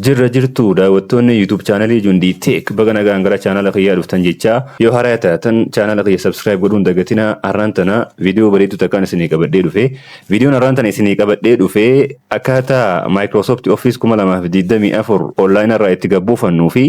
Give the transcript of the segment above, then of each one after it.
Jirra jirtuu daawwattoonni YouTube chaanalii Jundii Tech baga nagaan gara chaanala kiyyaa dhuftan jechaa yoo haaraa taatan chaanala kiyya subscribe godhuun dagatinaa har'aan tana viidiyoo bareedduu takkaan isinii qabadhee dhufe viidiyoon har'aan tana isinii qabadhee dhufe akkaataa Microsoft Office 2024 online irraa itti gabbuufannuu fi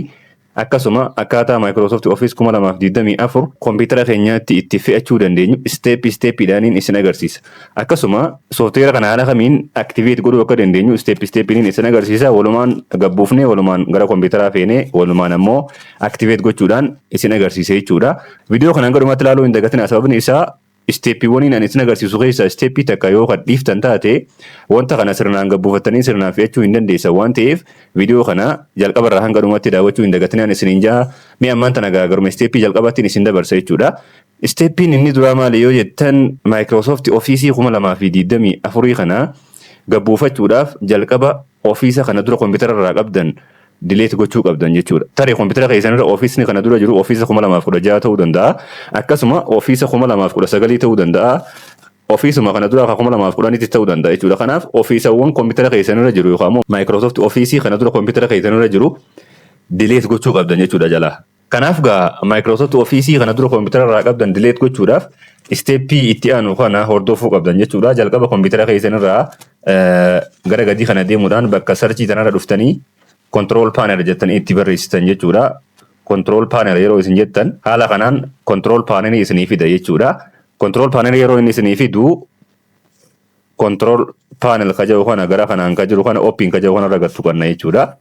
Akkasuma akkaataa Microsoft Office 2024 kompiitara keenyaatti itti fe'achuu dandeenyu step step dhaaniin isin agarsiisa. Akkasuma software kana haala kamiin activate godhuu akka dandeenyu step step niin isin agarsiisa. Walumaan gabbuufnee walumaan gara kompiitaraa feenee walumaan ammoo activate gochuudhaan isin agarsiisa jechuudha. Video kana hanga dhumaatti ilaaluu hin dagatinaa sababni isaa Isteeppiiwwaniin ani isin agarsiisu keessaa isteeppii takka yoo kan dhiiftan taate wanta kana sirnaan gabbuufattanii sirnaan fe'achuu hin dandeessan waan ta'eef viidiyoo kana jalqaba irraa hanga dhumaatti daawwachuu hin dagatinaan isiniin jaha mee ammaan tana garuma isteeppii jalqabaattiin isin dabarsa jechuudha. Isteeppiin inni duraa maali yoo jettan Microsoft Office 2024 kana gabbuufachuudhaaf jalqaba ofiisa kana dura kompiitara irraa qabdan delete gochuu qabdan jechuudha. Tarii kompitara keessan irra ofiisni kana dura jiru ofiisa 2016 ta'uu danda'a. Akkasuma ofiisa 2019 ta'uu danda'a. Ofiisuma kana dura akka 2010tti ta'uu danda'a jechuudha. Kanaaf ofiisawwan kompitara keessan irra jiru yookaan immoo Microsoft ofiisii kana dura kompitara keessan irra jiru delete gochuu qabdan jechuudha jalaa. Kanaaf gaa Microsoft Office kana dura koompitara irraa qabdan delete gochuudhaaf isteeppii itti aanu kana hordofuu qabdan jechuudha. Jalqaba koompitara keessan irraa gara gadii kana deemuudhaan bakka sarchii tanarra dhuftanii control panel jettan itti barreessitan jechuudha. Control panel yeroo isin jettan haala kanaan control panel isinii fida jechuudha. Control panel yeroo inni isinii fidu control panel ka jedhu kana gara kanaan ka jiru kana open ka jedhu kanarra gad tuqanna jechuudha.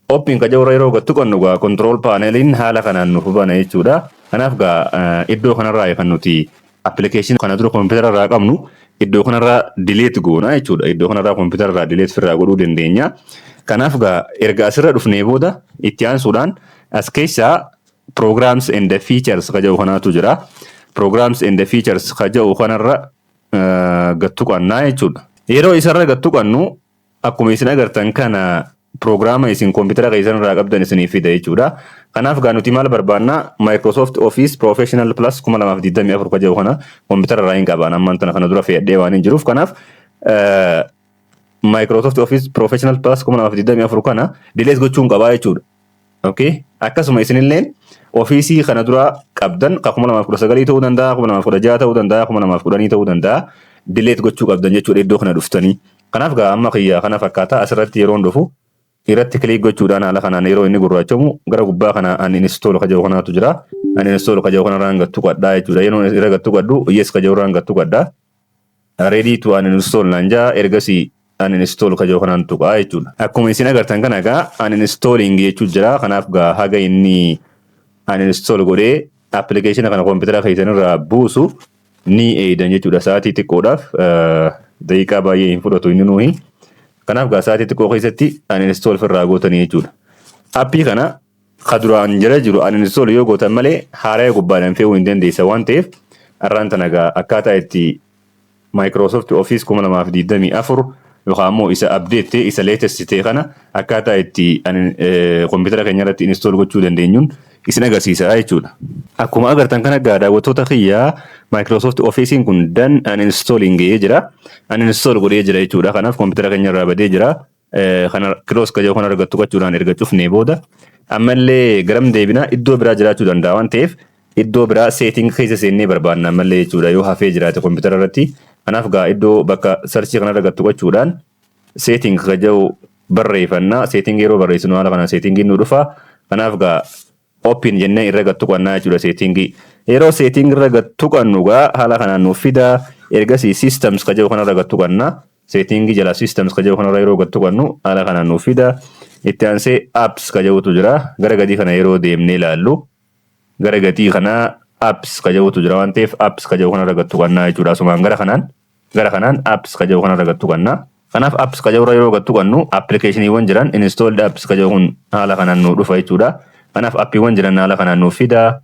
Oppiin qajaura yeroo gad tuqannu gaa control paneliin haala kanaan nuuf bana jechuudha. Kanaaf gaa iddoo kanarraa kan nuti application kana dura koompitara irraa qabnu iddoo kanarraa delete goona jechuudha. Iddoo kanarraa koompitara irraa delete firraa godhuu dandeenya. Kanaaf gaa erga asirra dhufnee booda itti aansuudhaan as keessaa programs and features ka jedhu kanaatu jira. Programs and features ka jedhu kanarra gad tuqannaa jechuudha. Yeroo isarra gad tuqannu Akkuma isin agartan kana prograama isin kompitara keessan irraa qabdan isiniif fida jechuudha. Kanaaf gaa nuti maal barbaanna Microsoft Office Professional Plus 2024 ka jedhu kana kompitara irraa hin qabaan ammaan tana kana dura fe'adhee waan hin jiruuf kanaaf Microsoft Office Professional Plus 2024 kana dilees gochuun qabaa jechuudha. Okay. Akkasuma isinilleen ofiisii kana duraa qabdan ka 2019 ta'uu danda'a, 2016 ta'uu danda'a, 2010 ta'uu danda'a. Dileet gochuu qabdan jechuudha iddoo kana dhuftanii. Kanaaf gaa amma kiyya kana fakkaata asirratti yeroon dhufu irratti kiliik gochuudhaan haala kanaan yeroo inni gurraachamu gara gubbaa kana an install ka jedhu kanaatu jira. An install ka jedhu kanarraan gattu qadhaa jechuudha. Yeroo irra gattu qadhu yes ka jedhu irraan gattu qadhaa. Ready to uninstall naan jaa ergasii uninstall kajoo kanaan tuqaa jechuudha. Akkuma isin agartan kana egaa uninstalling jechuu jira kanaaf gaa haga inni uninstall godhee appilikeeshina kana koompitara keessan irraa buusu ni eeydan jechuudha sa'aatii xiqqoodhaaf daqiiqaa baay'ee hin fudhatu inni nuuhi. Kanaaf gaa sa'aatii xiqqoo keessatti uninstall firraa gootanii jechuudha. Appii kana ka duraan jala jiru uninstall yoo gootan malee haaraya gubbaadhaan fe'uu hin dandeessan waan ta'eef arraan tana egaa akkaataa itti Microsoft Office 2024 yookaan immoo isa update ta'e isa latest ta'e kana akkaataa itti kompiitara keenya irratti install gochuu dandeenyuun isin agarsiisa jechuudha. Akkuma agartan kana egaa daawwattoota kiyya Microsoft Office kun dan uninstalling jedhee jira. Uninstall godhee jira jechuudha. Kanaaf kompiitara keenya irraa badee jira. kana kiloos kajoo kana argattu qachuudhaan erga cufnee booda ammallee garam deebinaa iddoo biraa jiraachuu danda'a waan ta'eef iddoo biraa seeting keessa seennee barbaanna ammallee jechuudha yoo hafee jiraate kompiitara irratti kanaaf gaa iddoo bakka sarchii kana argattu qachuudhaan seeting kajoo barreeffannaa seeting yeroo barreessinu haala kanaan seetingiin nu dhufa kanaaf gaa Open jennee irra gad tuqannaa jechuudha seetingii. Yeroo seetingii irra gad tuqannu gaa haala kanaan nuuf fida. Ergasii systems ka jedhu kanarra gad tuqanna. Seetingii jala systems ka jedhu kanarra yeroo gad tuqannu haala kanaan nuuf fida. Itti aansee apps ka jedhutu jira. Gara gadii kana yeroo deemnee ilaallu gara gadii kana apps ka jedhutu jira waan ta'eef apps ka jedhu kanarra gad tuqannaa jechuudha. Asumaan gara kanaan Gara kanaan apps ka jedhu kanarra gad tuqanna. Kanaaf apps ka jedhurra yeroo gad tuqannu appilikeeshiniiwwan jiran installed apps ka jedhu kun haala kanaan nuu dhufa jechuudha. Kanaaf appiiwwan jiran haala kanaan nuuf fida.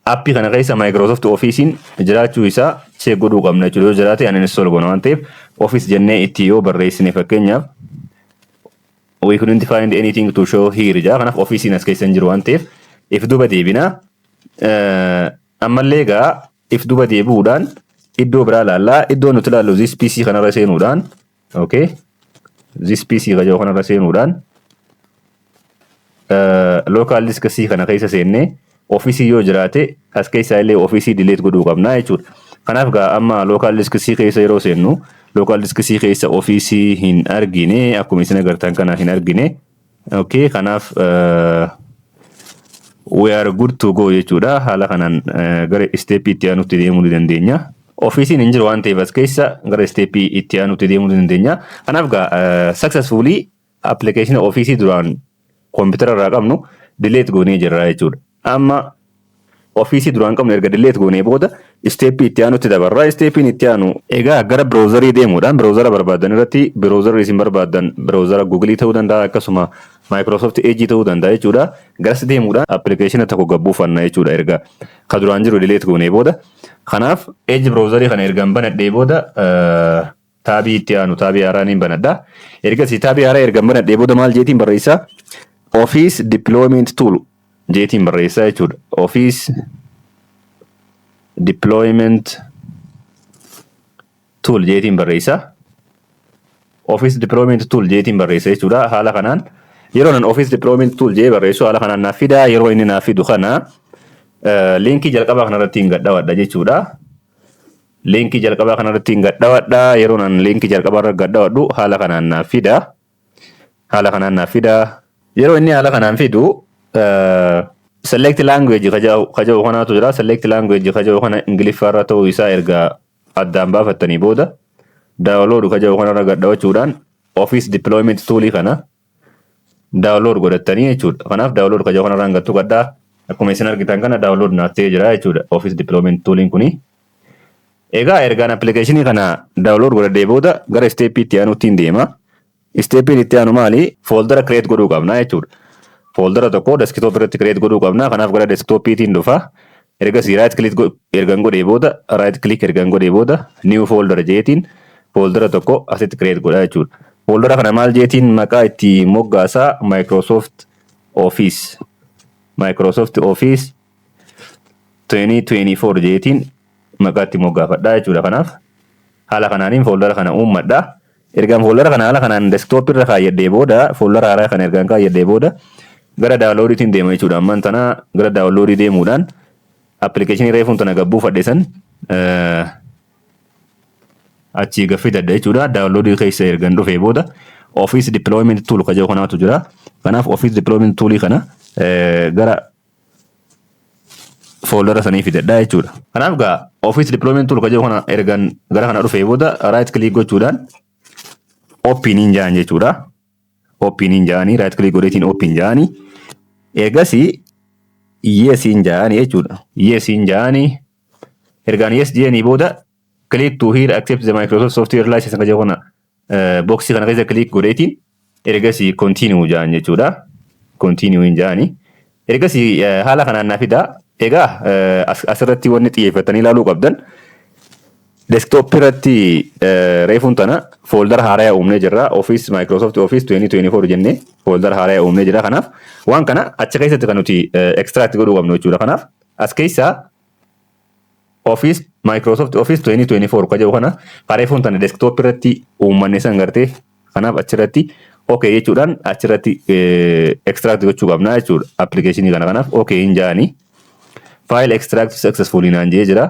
Appii kana keessa Microsoft Office'n jiraachuu isaa check godhuu qabna jechuudha. Yoo jiraate uninstall goona waan ta'eef Office jennee itti yoo barreessine fakkeenyaaf we couldn't find anything to show here jedha. Kanaaf Office'n as keessa hin jiru waan ta'eef if duuba deebina. Ammallee egaa if duba deebi'uudhaan iddoo biraa laalla. Iddoo nuti laallu this PC kanarra seenuudhaan okay this PC kajoo kanarra seenuudhaan local disk C kana keessa seennee ofiisii yoo jiraate as keessaa illee ofiisii delete godhuu qabna jechuudha. Kanaaf gaa amma local disk C keessa yeroo seennu local disk C keessa ofiisii hin argine akkuma isin agartan kana hin argine. Okay, kanaaf uh, we are good to go jechuudha. Haala kanaan uh, gara isteeppii itti aanutti deemuu ni dandeenya. Ofiisiin hin jiru waan ta'eef as keessa gara isteeppii itti aanutti deemuu ni dandeenya. Kanaaf gaa uh, successfully appilikeeshina ofiisii duraan koompitara irraa qabnu delete goonee jirra jechuudha. Amma Office duraan qabnu erga delete goonee booda step itti aanutti dabarra. Step itti aanu egaa gara browserii deemuudhaan browsera barbaaddan irratti browserri isin barbaaddan browsera Google ta'uu danda'a akkasuma Microsoft Edge ta'uu danda'a jechuudha. Garas deemuudhaan application tokko gad buufanna jechuudha erga ka duraan jiru delete goonee booda. Kanaaf Edge browserii kana ergan banadhee booda taabii itti aanu taabii haaraa niin banadha. Ergasii taabii haaraa ergan banadhee booda maal jeetiin barreessaa? Office Deployment Tool jeetiin barreessaa jechuudha. Office Deployment Tool jeetiin barreessaa. Office Deployment Tool jeetiin barreessa jechuudha. Haala kanaan yeroo nan Office Deployment Tool jee barreessu haala kanaan naaf fidaa yeroo inni naaf fidu kana liinkii jalqabaa kanarratti hin gadhawadha jechuudha. Liinkii jalqabaa kanarratti hin gadhawadha. Yeroon an liinkii jalqabaa irra gadhawadhu haala kanaan naaf fida. Haala kanaan naaf fida. Yeroo inni haala kanaan fidu select language kaja'u kanaatu jira. Select language kaja'u kana Ingiliffaarra ta'uu isaa erga addaan baafattanii booda download kaja'u kanarra gadhawachuudhaan Office Deployment Tool kana daawunlood godhattanii jechuudha. Kanaaf daawunlood kajaa kanarraan gattu gadhaa akkuma isin argitan kana daawunlood naaf ta'ee jira jechuudha. Office Deployment Toolin kuni. Egaa ergaan appilikeeshinii kana daawunlood godhadhee booda gara isteeppii itti aanuutti hin deema. Isteeppiin itti aanu maali? Fooldara kireet godhuu qabna jechuudha. Fooldara tokko deskitoop irratti kireet godhuu qabna. Kanaaf gara deskitooppiitiin dhufa. Ergasii right click go- ergan godhee booda right click ergan godhee booda new folder jeetiin fooldara tokko asitti create godha jechuudha. Fooldara kana maal jeetiin maqaa itti moggaasaa Microsoft Office Microsoft Office 2024 jeetiin maqaa itti moggaafadha jechuudha. Kanaaf haala kanaanin fooldara kana uummadha. Ergaan fooldara kana haala kanaan desktop irra kaayyadhee booda fooldara haaraa kana ergaan kaayyadhee booda gara download tiin deema jechuudha. Ammaan tana gara download deemuudhaan application reefuun tana gabbuufadhe san achii gaffidadha jechuudha. Download keessa ergan dhufee booda office deployment tool kajoo kanaatu jira. Kanaaf office deployment tool kana gara fooldara sanii fidadha jechuudha. Kanaaf gaa office deployment tool kajiru kana ergan gara kana dhufee booda right click gochuudhaan open hin jaan jechuudha. Open hin jaanii right click godheetiin open jaanii eegasii yes hin jaanii jechuudha. Yes hin jaanii ergaan yes jeenii booda click to here accept the Microsoft software license kajiru kana boksii kana keessa click godheetiin ergasii continue jaan jechuudha. Continue hin jaani. Ergasii haala kanaan na fidaa. Egaa asirratti wanni xiyyeeffatanii ilaaluu qabdan desktop irratti reefuun tana fooldara haaraya uumnee jirra. Office Microsoft Office 2024 jennee fooldara haaraya uumnee jira. Kanaaf waan kana achi keessatti kan nuti extract godhuu qabnu jechuudha. Kanaaf as keessaa Office Microsoft Office 2024 ka jedhu kana kareefuun tana desktop irratti uummanne san gartee kanaaf achirratti ok jechuudhaan achirratti extract gochuu qabna jechuudha application kana kanaaf ok hin jaani file extract successfully naan jee jira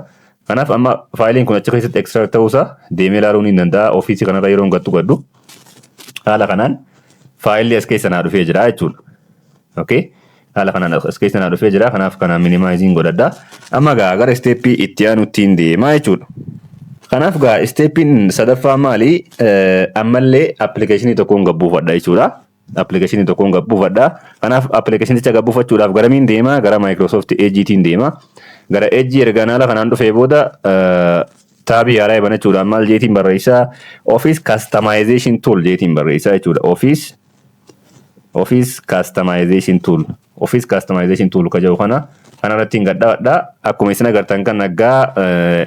kanaaf amma faayiliin kun achi keessatti extract ta'uusaa deemee ilaaluu ni danda'a ofiisii kanarra yeroo hin gattu gadhu haala kanaan faayilli as keessa naa dhufee jira jechuudha. Okay. Haala kanaan as keessa naa dhufee jira. Kanaaf kana minimaayiziin godhadha. Amma gaa gara isteeppii itti aanuttiin deemaa jechuudha. Kanaaf gaa isteeppiin sadaffaa maali? Ammallee appilikeeshinii tokkoon gabbuufadha jechuudha. Appilikeeshinii tokkoon gabbuufadha. Kanaaf appilikeeshinicha gabbuufachuudhaaf garamiin deemaa? Gara Microsoft Edge'tiin deemaa. Gara Edge ergaan haala kanaan dhufee booda taabii haaraa banachuudhaan maal jeetiin barreessaa? Office Customization Tool jeetiin barreessaa jechuudha. Office Office Customization Tool Office Customization Tool ka jedhu kana kana irratti hin gadhawadha. Akkuma isin agartan kan naggaa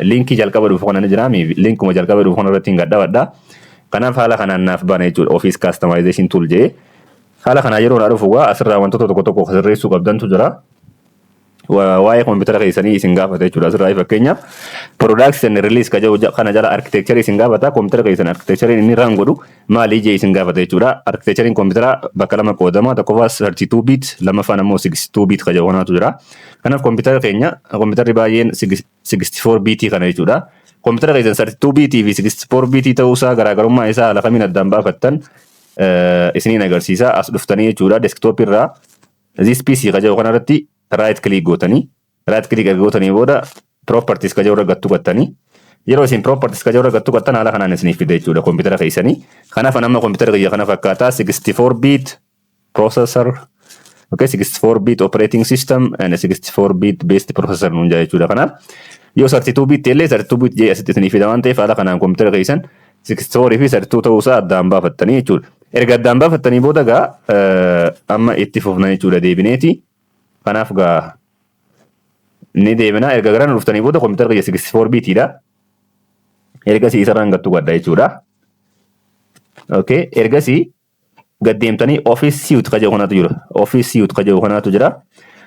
linkii jalqaba dhufu kana ni jira mi linkuma jalqaba dhufu kana irratti hin gadhawadha. Kanaaf haala kanaan naaf bana jechuudha Office Customization Tool jedhee. Haala kanaa yeroo naa dhufu gaa asirraa wantoota tokko tokko sirreessuu qabdantu jira. waa'ee koompitara keessanii isin gaafata jechuudha. Asirraa fakkeenyaaf products and release ka jedhu ja- kana jala architecture isin gaafata. Koompitara keessan architecture inni run godhu maali ijee isin gaafata jechuudha. Architecture'n koompitara bakka lama qoodama. Tokkoffaa 32 bit, lammaffaan ammoo 62 bit ka jedhu kanaatu jira. Kanaaf koompitara keenya koompitari baay'een 64 bit kana jechuudha. Koompitara keessan 32 bit fi 64 bit ta'uusaa garaagarummaa isaa haala kamiin addaan baafattan eh, isiniin agarsiisa. As dhuftanii jechuudha desktop irraa This PC ka jedhu kanarratti right click gootanii right click erga gootanii booda properties ka jedhu irra gattu gattanii yeroo isin properties ka jedhu irra gattu gattan haala kanaan isiniif fida jechuudha kompiitara keessanii. Kanaaf nama kompiitara kiyya kana fakkaataa 64 bit processor okay 64 bit operating system and 64 bit based processor nuun jaa jechuudha kanaaf yoo 32 bit illee 32 bit jee asitti isiniif fida waan ta'eef haala kanaan kompiitara keessan sixth four fi third two ta'uu isaa addaan baafattanii jechuudha. Erga addaan baafattanii booda gaa eh, amma itti fufna jechuudha deebineeti. Kanaaf gaa ni deebina erga garaan dhuftanii booda kompiitara kiyya sixth four biitiidha. Ergasii isarraan gattu gadda jechuudha. Okay. Ergasii gad deemtanii office suit ka jedhu kanatu jira. Office suit ka jedhu kanatu jira.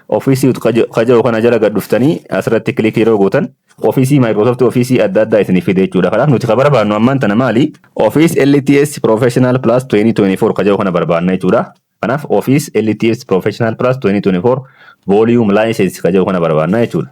Office suit ka jedhu ka jedhu kana jala gad dhuftanii asirratti click yeroo gootan ofiisii Microsoft ofiisii adda addaa isinii fide jechuudha. Kanaaf nuti ka barbaannu ammaan tana maali? Office LTS Professional Plus 2024 ka jedhu kana barbaanna jechuudha. Kanaaf Office LTS Professional Plus 2024 Volume License ka jedhu kana barbaanna jechuudha.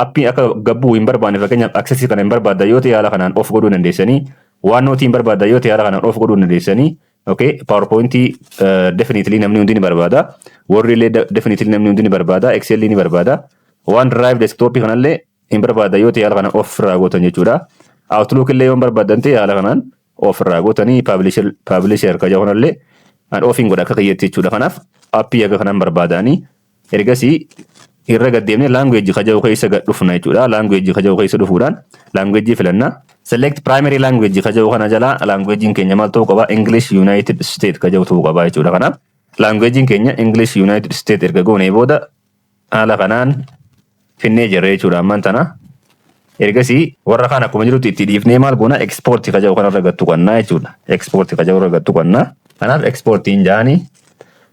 Appii akka gabbuu hin barbaanne fakkeenyaaf access kana hin barbaadda yoo ta'e haala kanaan off godhuu dandeessanii OneNote hin barbaadda yoo ta'e haala kanaan off godhuu dandeessanii okay PowerPoint uh, definitely namni hundi ni barbaada Word illee de- definitely namni hundi ni barbaada Excel ni barbaada OneDrive desktop kanallee hin barbaadda yoo ta'e haala kanaan off irraa gootan jechuudha Outlook illee yoo hin barbaaddan ta'e haala kanaan off irraa gootanii publisher publisher kaja kanallee an off hin godha akka kiyyetti jechuudha kanaaf appii akka kanaan barbaadaanii Ergasii irra gad deemnee language ka jedhu keessa gad dhufna jechuudha. Language ka jedhu keessa dhufuudhaan language filanna. Select primary language ka jedhu kana jala language'n keenya maal ta'uu qaba? English United States ka jedhu ta'uu qaba jechuudha. Kanaaf language'n keenya English United States erga goonee booda haala kanaan finnee jirra jechuudha ammaan tana. Ergasii warra kaan akkuma jirutti itti dhiifnee maal goona export ka jedhu kanarra gad tuqannaa jechuudha. Export ka jedhu irra gad tuqannaa. Kanaaf exportiin jaanii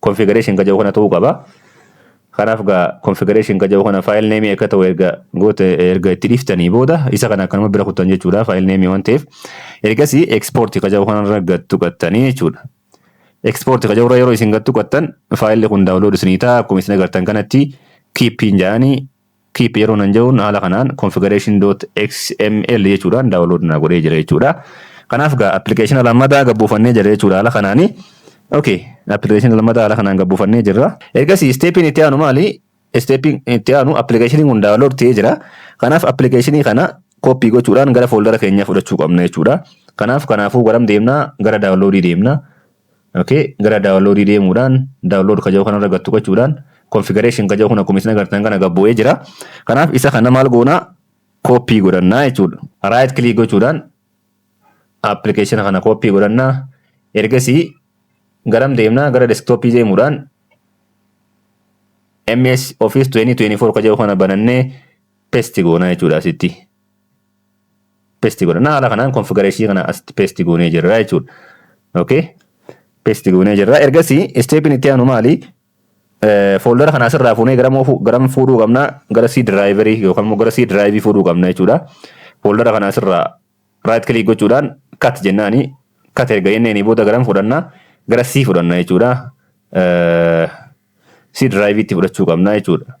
configuration ka jedhu kana ta'uu qaba. Kanaaf gaa configuration ka jedhu kana file name akka ta'u erga goote erga itti dhiftanii booda isa kana akkanuma bira kuttan jechuudha file name waan ta'eef. Ergasii export ka jedhu kanarra gad tuqattanii jechuudha. Export ka jedhu irra yeroo isin gad tuqattan faayilli kun download isinii ta'a akkuma isin agartan kanatti keep hin jedhanii Keep yeroo nan jedhuun haala kanaan configuration.xml jechuudhaan download naa godhee jira jechuudha. Kanaaf gaa application lammataa gad buufannee jira jechuudha haala kanaani. Okay, application lammataa haala kanaan gad buufannee jirra. Ergasii steppiin itti aanu maali? Steppiin itti aanu appilikeeshiniin kun download ta'ee jira. Kanaaf appilikeeshinii kana copy gochuudhaan gara fooldara keenyaa fudhachuu qabna jechuudha. Kanaaf kanaafuu garam deemna? Gara downloadii deemna. Okay, gara download deemuudhaan download kaja'u kanarra gad tuqachuudhaan configuration kaja'u kun akkuma isin agartan kana gad bu'ee jira. Kanaaf isa kana maal goona copy godhannaa jechuudha. Right click gochuudhaan application kana copy godhannaa ergasii garam deemnaa gara desktop deemuudhaan MS Office 2024 kaja'u kana banannee paste goona jechuudha asitti. pesti godhanna haala kanaan konfigareeshii kana asitti pesti goonee jirra jechuudha. Okay. Pesti goonee jirra. Ergasii isteepiin itti aanu maali? Fooldara kana asirraa fuunee garam oofuu garam fuudhuu qabna gara C diraayiverii yookaan immoo gara C diraayivii fuudhuu qabna jechuudha. Fooldara kana asirraa raayit kilik gochuudhaan kat jennaani kat erga jenneenii booda garam fudhanna gara C fudhanna jechuudha. C diraayiviitti fudhachuu qabna jechuudha.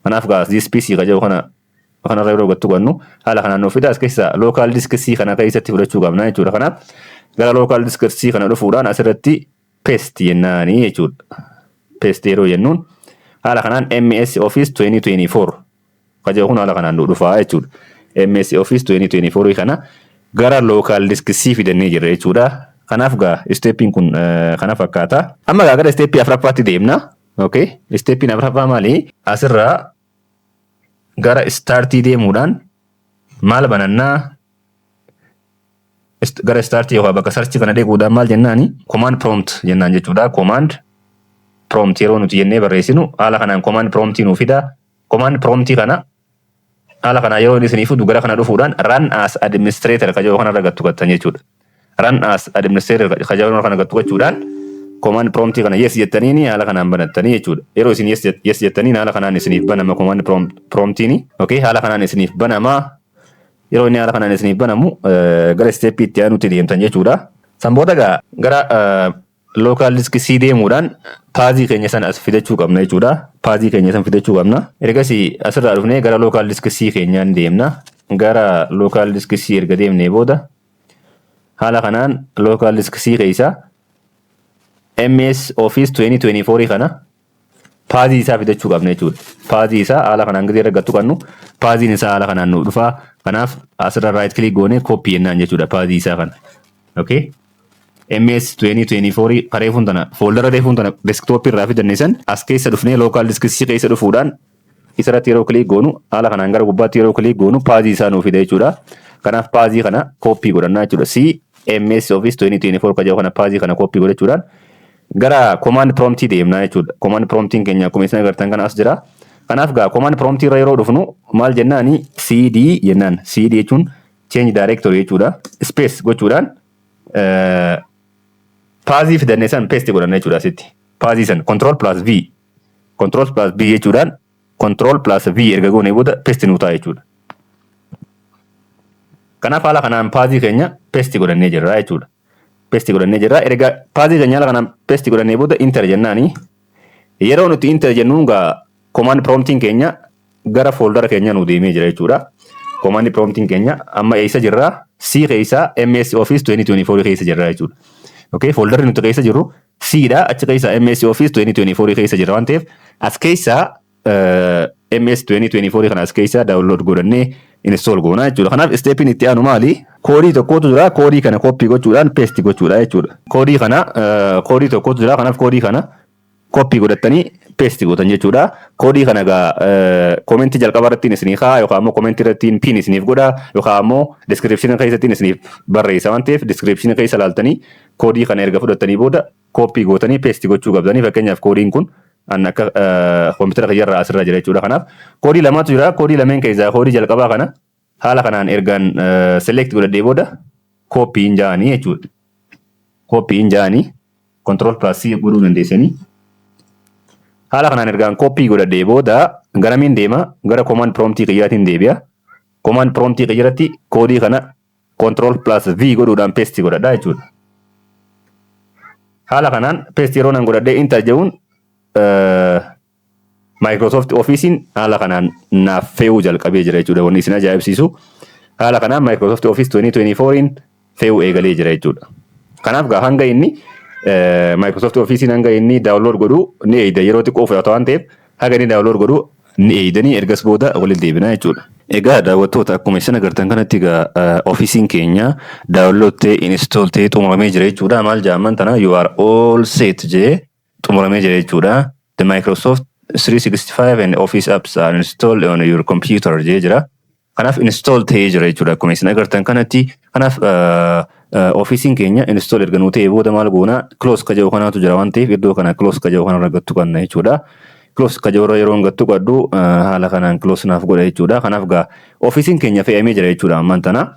Kanaaf gaa this PC ka jedhu kana Waan irra yeroo gattu gannu haala kanaan nuuf fida as keessaa lookaal disk C kana keessatti fudhachuu qabna jechuudha. Kanaaf gara lookaal disk C kana dhufuudhaan asirratti paste jennaani jechuudha. Paste yeroo jennuun haala kanaan MS Office 2024 kaja'u kun haala kanaan nu dhufaa jechuudha. MS Office 2024 kana gara lookaal disk C fidannee jirra jechuudha. Kanaaf gaa isteeppiin kun kana fakkaata. Amma gaa gara isteeppii afuraffaatti deemna. Okay. Isteeppiin afuraffaa maali? Asirraa gara istaartii deemuudhaan maal banannaa Ist- gara istaartii yookaan bakka sarchi kana dheeguudhaan maal jennaani command prompt jennaan jechuudha command prompt yeroo nuti jennee barreessinu haala kanaan command prompt nuuf fida command prompt kana haala kanaan yeroo inni isiniif fidu gara kana dhufuudhaan run as administrator ka jedhu kanarra gattu gattan jechuudha. run as administrator ka jabana kana gattu gochuudhaan command prompt kana yes jettaniini haala kanaan banattanii jechuudha. Yeroo isin yes jet- yes jettaniin haala kanaan isiniif banama command prom- promptiini. Okay, haala kanaan isiniif banama. Yeroo inni haala kanaan isiniif banamu eh, gara step itti aanutti deemtan jechuudha. San booda gaa gara eh, Local disk C deemuudhaan paazii keenya sana as fidachuu qabna jechuudha. Paazii keenya sana fidachuu qabna. Ergasii asirraa dhufnee gara local disk C keenyaan deemna. Gara local disk C erga deemnee booda haala kanaan local disk C keessa MS Office 2024 kana paazii isaa fidachuu qabna jechuudha. Paazii isaa haala kanaan gadi irra gattu qabnu paaziin isaa haala kanaan nuuf dhufa. Kanaaf asirra right click goone copy jennaan jechuudha paazii isaa kana. Okay. MS 2024 kareefuun tana fooldara reefuun tana desktop irraa fidanne san as keessa dhufnee local disk C keessa dhufuudhaan Isarratti yeroo kiliik goonu haala kanaan gara gubbaatti yeroo kiliik goonu paajii isaa nuu fida jechuudha. Kanaaf paajii kana kooppii godhannaa jechuudha. CMS Office 2024 ka jedhu kana paajii kana kooppii godhachuudhaan gara command promptii deemnaa jechuudha. Command promptiin keenya akkuma isin agartan kana as jira. Kanaaf gaa command promptii irra yeroo dhufnu maal jennaani CD jennaan. CD jechuun change directory jechuudha. Space gochuudhaan paajii fidanne san paste godhanna jechuudha asitti. Paajii san control plus V Control plus V jechuudhaan Control plus V erga goonee booda paste nuu ta'a jechuudha. Kanaaf haala kanaan paazii keenya paste godhannee jirra jechuudha. Paste godhannee jirra. Erga paazii keenya haala kanaan paste godhannee booda enter jennaani. Yeroo nuti enter jennuun gaa command promptiin keenya gara fooldara keenyaa nu deemee jira jechuudha. Command prompting keenya amma eessa jirra? C keessa MS Office 2024 keessa jirra jechuudha. Okay, fooldarri nuti keessa jirru C dha. Achi keessa MS Office 2024 keessa jirra waan ta'eef as keessa eh, MS 2024 kana as keessa download godhannee install goona jechuudha. Kanaaf stepin itti aanu maali? Koodii tokkotu jira. Koodii kana copy gochuudhaan paste gochuudha jechuudha. Koodii kana eh, koodii tokkotu jira. Kanaaf koodii kana copy godhattanii paste gootan jechuudha. Koodii kana egaa koomentii jalqaba irrattiin isinii kaa'a yookaan immoo koomentii irrattiin pin isiniif godha yookaan immoo description keessattiin isiniif barreessa waan ta'eef description keessa laaltanii koodii kana erga fudhattanii booda copy gootanii paste gochuu qabdanii fakkeenyaaf koodiin kun an akka koompitara kiyyarraa asirra jira jechuudha kanaaf koodii lamaatu jira koodii lameen keessaa koodii jalqabaa kana Haala kanaan ergaan select godhadhee booda copy hin ja'anii jechuudha. Copy hin ja'anii control plus C godhuu dandeessanii. Haala kanaan ergaan copy godhadhee booda garamiin deema gara command prompt kiyyaatiin deebi'a. Command prompt kiyyaratti koodii kana control plus V godhuudhaan paste godhadha jechuudha. Haala kanaan paste yeroo nan godhadhee enter ja'uun Microsoft Office'n haala kanaan naaf fe'uu jalqabee jira jechuudha. Wanni isin ajaa'ibsiisu haala kanaan Microsoft Office 2024'n fe'uu eegalee jira jechuudha. Kanaaf gaa hanga inni eh, Microsoft Office'n hanga inni download godhu ni eeyda yeroo xiqqoo fudhata waan ta'eef haga inni download godhu ni eeydanii ergas booda walitti deebina jechuudha. Egaa daawwattoota akkuma isin agartan kanatti egaa eh, ofiisiin keenya download ta'e install ta'e xumuramee jira jechuudha. Maal jaamman tana you are all set jee xumuramee jira jechuudha. The Microsoft 365 and Office apps are installed on your computer jee jira. Kanaaf install ta'ee jira jechuudha akkuma isin agartan kanatti. Kanaaf ofiisiin keenya install erga nuu ta'ee booda maal goona close ka jedhu kanaatu jira waan ta'eef iddoo kana close ka jedhu kanarra gattu qabna jechuudha. Close ka jedhurra yeroo gattu qabdu haala kanaan close naaf godha jechuudha. Kanaaf gaa ofiisiin keenya fe'amee jira jechuudha ammaan tana.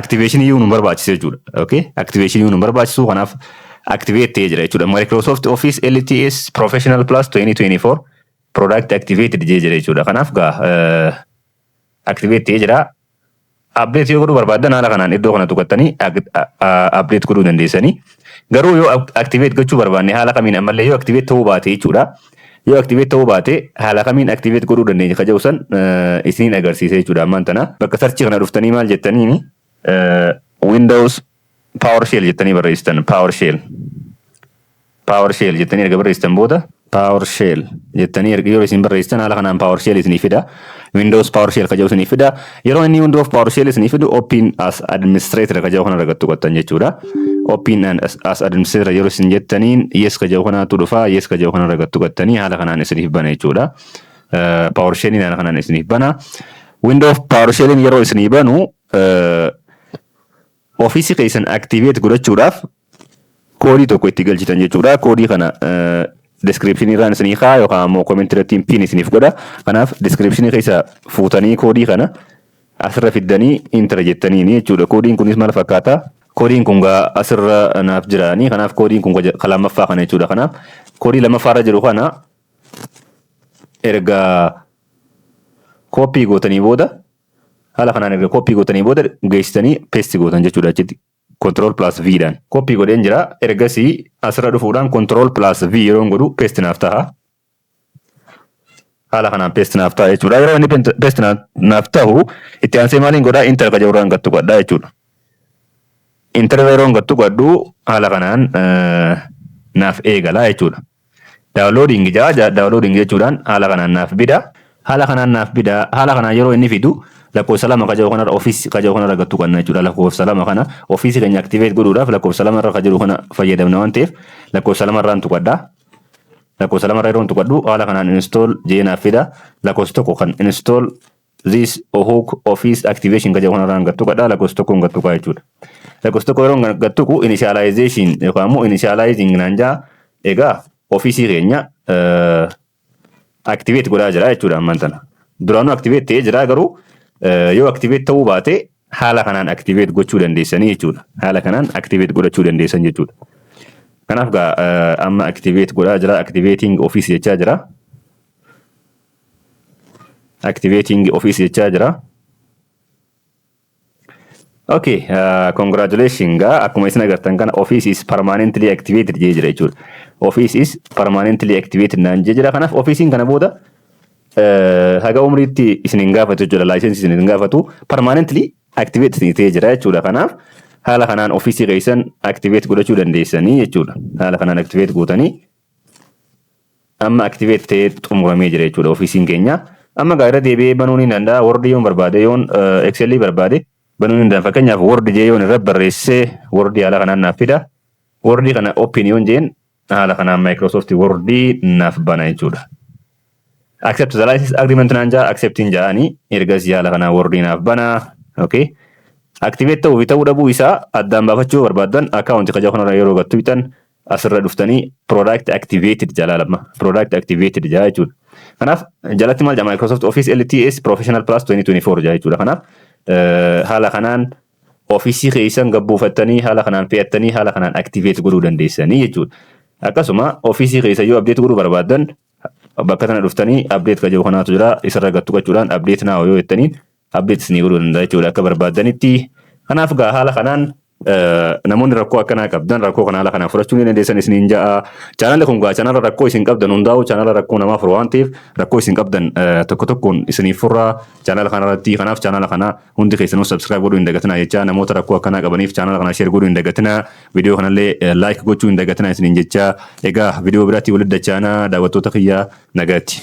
activation iyyuu nu barbaachisu jechuudha. Okay? Activation iyyuu nu barbaachisu kanaaf activate ta'ee jira jechuudha. Microsoft Office LTS Professional Plus 2024 product activated jee jira jechuudha. Kanaaf gaa eh, activate ta'ee jira. Update yoo godhuu barbaaddan haala kanaan iddoo kana tuqattanii ag- a- a- update godhuu dandeessanii. Garuu yoo ac- activate gochuu barbaanne haala kamiin ammallee yoo activate ta'uu baate jechuudha. Yoo activate ta'uu baate haala kamiin activate godhuu dandeenya ka jedhu san isiniin agarsiisa jechuudha ammaan tana. Bakka search kana dhuftanii maal jettaniini Windows PowerShell jettanii barreessitan PowerShell. PowerShell jettanii erga barreessitan booda PowerShell jettanii erga yoo isin barreessitan haala kanaan PowerShell isiniif fida. Windows PowerShell ka jedhu isinii fida. Yeroo inni Windows PowerShell isinii fidu Open as Administrator ka jedhu kana irratti tuqattan jechuudha. Open as Administrator yeroo isin jettaniin yes ka jedhu kanaatu dhufa. Yes ka jedhu kana irratti tuqattanii haala kanaan isiniif bana jechuudha. PowerShelliin haala kanaan isiniif bana. Windows PowerShelliin yeroo isinii banu Office keessan activate godhachuudhaaf koodii tokko itti galchitan jechuudha. Koodii kana description irraan isinii kaa yookaan ammoo comment irratti pin isiniif godha. Kanaaf description keessa fuutanii koodii kana asirra fiddanii intera jettaniini jechuudha. Koodiin kunis maal fakkaata? Koodiin kun gaa asirra naaf jiraanii kanaaf koodiin kun ka lammaffaa kana jechuudha. Kanaaf koodii lammaffaarra jiru kana erga kooppii gootanii booda Haala kanaan erga copy gootanii booda geessitanii paste gootan jechuudha achitti control plus v dhaan. Copy godheen jira ergasii asirra dhufuudhaan control plus v yeroon godhu paste naaf taha. Haala kanaan paste naaf taha jechuudha. Yeroo inni pent- paste naa- naaf tahu itti aansee maaliin godhaa enter ka jedhurraan gad tuqadhaa jechuudha. Enter irra yeroon gad tuqadhu haala kanaan eh, naaf eegala jechuudha. Downloading ja'a ja- downloading jechuudhaan haala kanaan naaf bida haala kanaan naaf bida haala kanaan yeroo inni fidu lakkoofsa lama ka jedhu kanarra office ka jedhu kanarra gattu qabna jechuudha lakkoofsa lama kana office keenya activate godhuudhaaf lakkoofsa lama irra ka jiru kana fayyadamna waan ta'eef lakkoofsa lama irraan tuqadha lakkoofsa lama irra yeroon tuqadhu haala kanaan install jee naaf fida lakkoofsa tokko kan install this hook office activation ka jedhu kanarraan gad tuqadha lakkoofsa tokkoon gad tuqaa jechuudha. Lakkoofsa tokko yeroo gad tuqu initialization yookaan immoo initializing naan jaa egaa ofiisii keenya activate godhaa jira jechuudha ammaan tana. Duraanuu activate ta'ee jira garuu yoo activate ta'uu baate haala kanaan activate gochuu dandeessanii jechuudha. Haala kanaan activate godhachuu dandeessan jechuudha. Kanaaf gaa amma activate godhaa jira activating office jechaa jira. activating office jechaa jira. Okay, uh, congratulations gaa akkuma isin agartan kana office is permanently activated jee jira jechuudha. Office is permanently activated naan jee jira. Kanaaf offiisiin kana booda uh, haga umriitti isin hin gaafatu jechuudha. Laayisensi isin hin gaafatu. Permanently activate isin ta'ee jira jechuudha. Kanaaf haala kanaan offiisii keessan activate godhachuu dandeessanii jechuudha. Haala kanaan activate gootanii Amma activate ta'ee xumuramee jira jechuudha ofiisiin keenya. Amma gaa irra deebi'ee banuu ni danda'a. Word yoon barbaade yoon Excel barbaade banuu ni danda'a. Fakkeenyaaf Word jee yoon irra barreessee Word haala kanaan naaf fida. Word kana open yoon jeen haala kanaan Microsoft Word naaf bana jechuudha. Accept the license agreement naan jaa accept hin jaani ergasii haala kanaan Word naaf bana. Okay. Activate ta'uu fi ta'uu dhabuu isaa addaan baafachuu barbaaddan account kajaa kanarra yeroo gattu bitan asirra dhuftanii product activated jalaa lamma product activated jaa jechuudha. Kanaaf jalatti maal jedha Microsoft Office LTS Professional Plus 2024 jaa jechuudha. Kanaaf haala kanaan ofiisii keessan gabbuufattanii haala kanaan fe'attanii haala kanaan activate godhuu dandeessanii jechuudha. Akkasuma ofiisii keessa yoo update godhuu barbaaddan bakka tana dhuftanii update kan jedhu kanaatu jira isarra gattu qachuudhaan update now yoo jettaniin update isinii godhuu danda'a jechuudha akka barbaaddanitti. Kanaaf egaa haala kanaan namoonni rakkoo akkanaa qabdan rakkoo kana haala kanaan fudhachuu ni dandeessan isiniin ja'a. Chaanalli kun egaa chaanala rakkoo isin qabdan hundaa'u chaanala rakkoo namaa furu waan ta'eef rakkoo isin qabdan tokko tokkoon isiniif furra chaanala kana irratti kanaaf chaanala kana hundi keessanuu subscribe godhuu hin dagatinaa jecha namoota rakkoo akkanaa qabaniif chaanala kana share godhuu hin dagatinaa viidiyoo kanallee like gochuu hin dagatinaa isiniin jecha egaa viidiyoo biraatti walitti dachaanaa daawwattoota kiyya nagaatti.